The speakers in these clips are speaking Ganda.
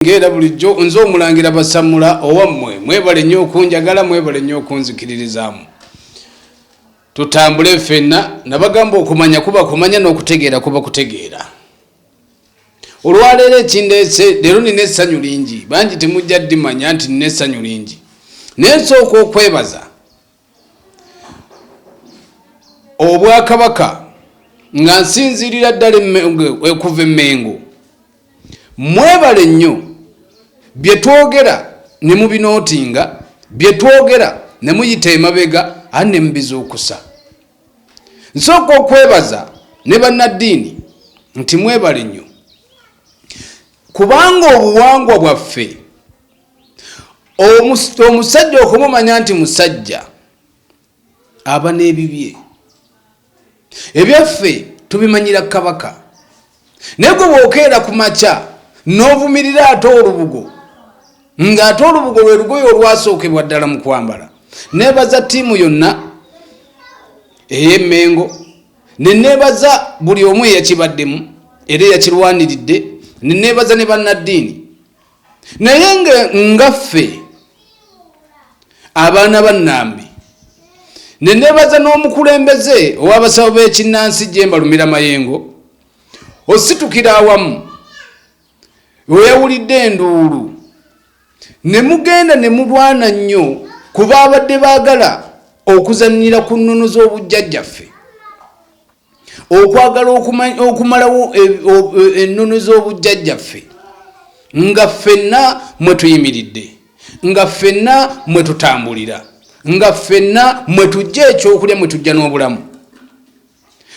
ng'era bulijjo nze omulangira basamula owammwe mwebale nnyo okunjagala mwebale nnyo okunzikiririzaamu tutambule ffenna nabagamba okumanya kuba kumanya n'okutegeera kuba kutegeera olwaleero ekindeese leero nina essanyu lingi bangi temujja ddimanya nti nina essanyu lingi naye nsooka okwebaza obwakabaka nga nsinziirira ddala okuva emmengo mwebale nnyo bye twogera ne mubinootinga bye twogera ne muyita emabega ani ne mubizuukusa nsooka okwebaza ne bannaddiini nti mwebale nnyo kubanga obuwangwa bwaffe omusajja okumumanya nti musajja aba n'ebibye ebyaffe tubimanyira kabaka naye gwe bwokeera ku makya n'ovumirira ate olubugo ng'ate olubugo lwe lugoye olwasookebwa ddala mu kwambala neebaza ttiimu yonna ey'emmengo ne neebaza buli omu eyakibaddemu era eyakirwaniridde ne neebaza ne bannaddiini naye nga ffe abaana ba nambi ne nebaza n'omukulembeze ow'abasawo b'ekinnansi gyembalumira mayengo ositukira awamu weyawulidde enduulu ne mugenda ne mulwana nnyo ku baabadde baagala okuzannyira ku nnono z'obujjajjaffe okwagala okumalawo e, e, ennono z'obujjajjaffe nga ffenna mwe tuyimiridde nga ffenna mwe tutambulira nga ffenna mwe tujja ekyokulya mwe tujja n'obulamu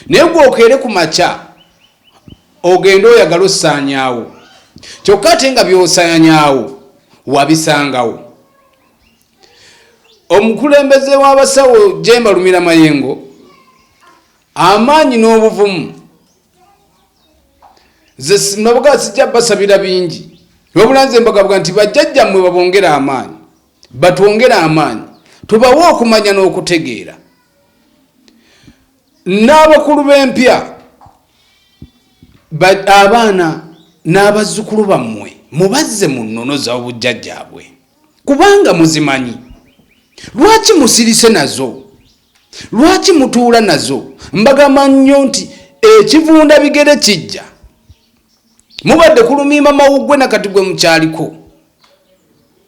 naye gwokeere ku makya ogende oyagala osaanyaawo kyokka ate nga byosaanyaawo wabisangawo omukulembeze w'abasawo jemba lumira mayengo amaanyi n'obuvumu zesimabuga sijja basabira bingi wabula nze mbagabwa nti bajjajjammwe babongere amaanyi batwongere amaanyi tubawe okumanya n'okutegeera n'abakulu b'empya abaana n'abazzukulu bammwe mubazze mu nnono za obujjajjaabwe kubanga muzimanyi. Lwaki musirise nazo? Lwaki mutuula nazo? Mbagamba nnyo nti ekivunda bigere kijja. Mubadde kulumiima mawuggwe na kati gwe mukyaliko.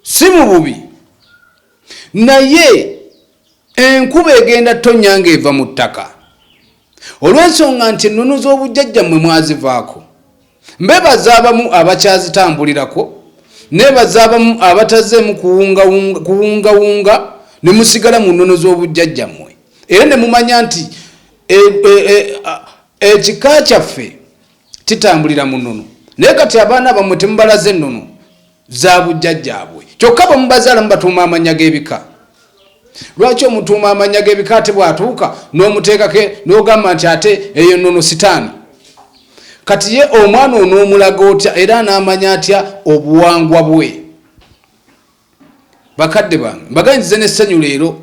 Si mu bubi. Naye enkuba egenda tonnya ng'eva mu ttaka. Olw'ensonga nti ennono z'obujjajjammwe mwazivaako, mbeebaza abamu abakyazitambulirako, nneebaza abamu abatazzeemu kuwungawunga ne musigala mu nnono z'obujjajjammwe era ne mumanya nti e, e, e, ekika kyaffe kitambulira mu nnono. Naye kati abaana bammwe temubalaze nnono. za bujjajjaabwe kyokka bwe mubazaala mubatuuma amannya g'ebika lwaki omutuuma amannya g'ebika ate bw'atuuka n'omuteekake n'ogamba nti ate eyo nnono sitaani kati ye omwana onoomulaga otya era anaamanya atya obuwangwa bwe bakadde bange mbaganyize n'essanyu leero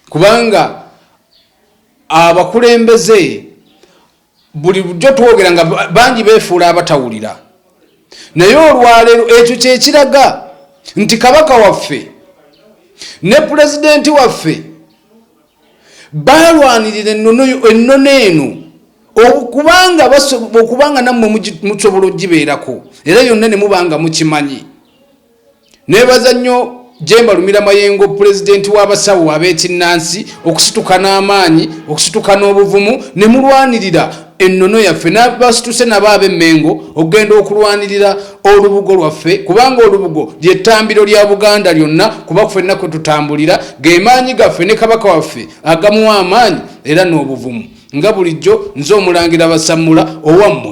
kubanga abakulembeze buli bujo twogera nga bangi befuula abatawulira naye olwaleero ekyo kyekiraga nti kabaka waffe ne pulezidenti waffe balwanirira ennono eno okubanga okubanga nammwe musobola ogibeerako era yonna ne mubanga mukimanyi Nebaza nnyo Jemba Lumira Mayengo pulezidenti w'abasawo ab'ekinnansi okusituka n'amaanyi, okusituka n'obuvumu ne mulwanirira ennono yaffe n'abasituse nabo ab'emmengo okugenda okulwanirira olubugo lwaffe kubanga olubugo ly'ettambiro lya Buganda lyonna kuba ffenna kwe tutambulira ge maanyi gaffe ne Kabaka waffe agamuwa amaanyi era n'obuvumu nga bulijjo nze omulangira Basammula owammwe.